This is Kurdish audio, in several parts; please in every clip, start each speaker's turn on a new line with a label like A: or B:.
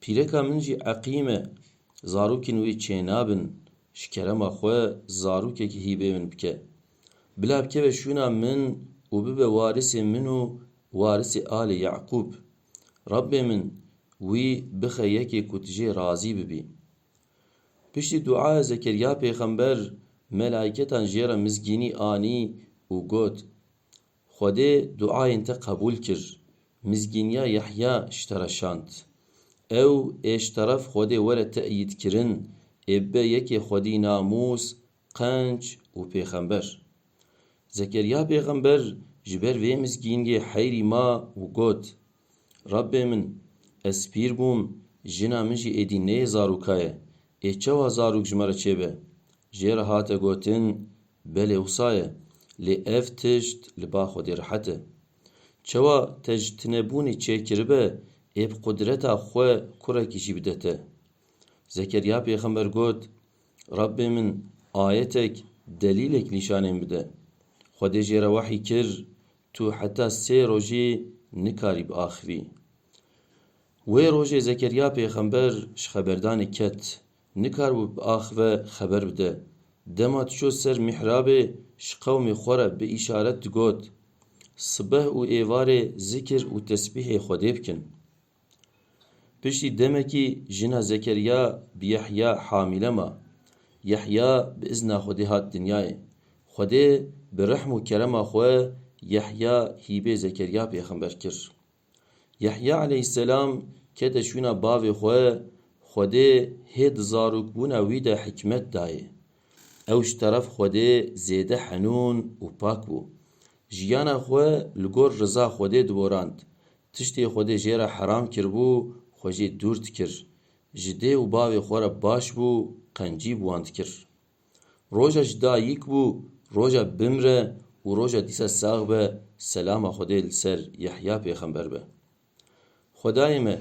A: Pîreka min jî eqîm e, zarokên wê çênabin ji kerema xwe zarokekî hîbê min bike. Bila bikeve şûna min û bibe warisê min û warisê alê Yeqûb. Rabbê min wî bixe yekê ku tu jê razî bibî. Piştî duaya Zekerya pêxember, melaîketan jê re mizgînî anî û got, Xwedê duayên te qebûl kir. Mizgîniya Yahya ştereşand. Ew ê ji teref Xwedê were te'yîdkirin ê bibe yekê Xwedî namûs, qenc û pêxember. Zekeriya pêxember ji ber vê mizgîniyê heyrî ma û got, Rebbê min, ez pîr bûm, jina min jî êdî neyê zarûka ye, ê çewa zarûk ji me re çêbe? Jê re hate gotin, Belê wisa ye, lê ev tişt li ba Xwedê rehet e. Çawa te ji tunebûnê çêkiribe ê bi qudreta xwe kurekî jî bide te. Zekerya pêxember got, Rabbê min ayetek, delîlek nîşanên bide. Xwedê jê re wehî kir, tu heta sê rojî nikarî biaxivî. Wê rojê Zekerya pêxember ji xeberdanê ket Nikaribû bi ax ve xeber bide. Dema diçû ser mihrabê ji qewmê xwe re bi îşaret digot, Sibeh û êvarê zikir û tesbîhê Xwedê bikin. Piştî demekî jina Zekeriya bi Yehya hamîle ma. Yehya bi izna Xwedê hat dinyayê. Xwedê bi rehm û kerema xwe Yehya hîbê Zekeriya pêxember kir. Yehya aleyhîsselam kete şûna bavê xwe, Xwedê hê di zarokbûna wî de hikmet dayê. Ew ji teref Xwedê zêde henûn û pak bû. Jiyana xwe li gor riza Xwedê diborand. Tiştê Xwedê jê re heram kiribû, xwe jê dûr dikir. Ji dê û bavê xwe re baş bû, qencî bi wan dikir. Roja ji da yik bû, roja bimre û roja dîsa sax be, selama Xwedê li ser Yehya pêxember be. Xwedayê me,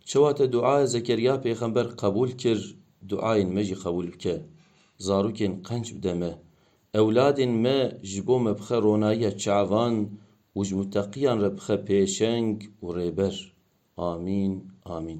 A: çawa te duaya Zekerya pêxember qebûl kir, duayên me jî qebûl bike, zarokên qenc bide me, ewladên me ji bo me bixe ronayiya çavan û ji muteqiyan re bixe pêşeng û rêber. Amîn, amîn.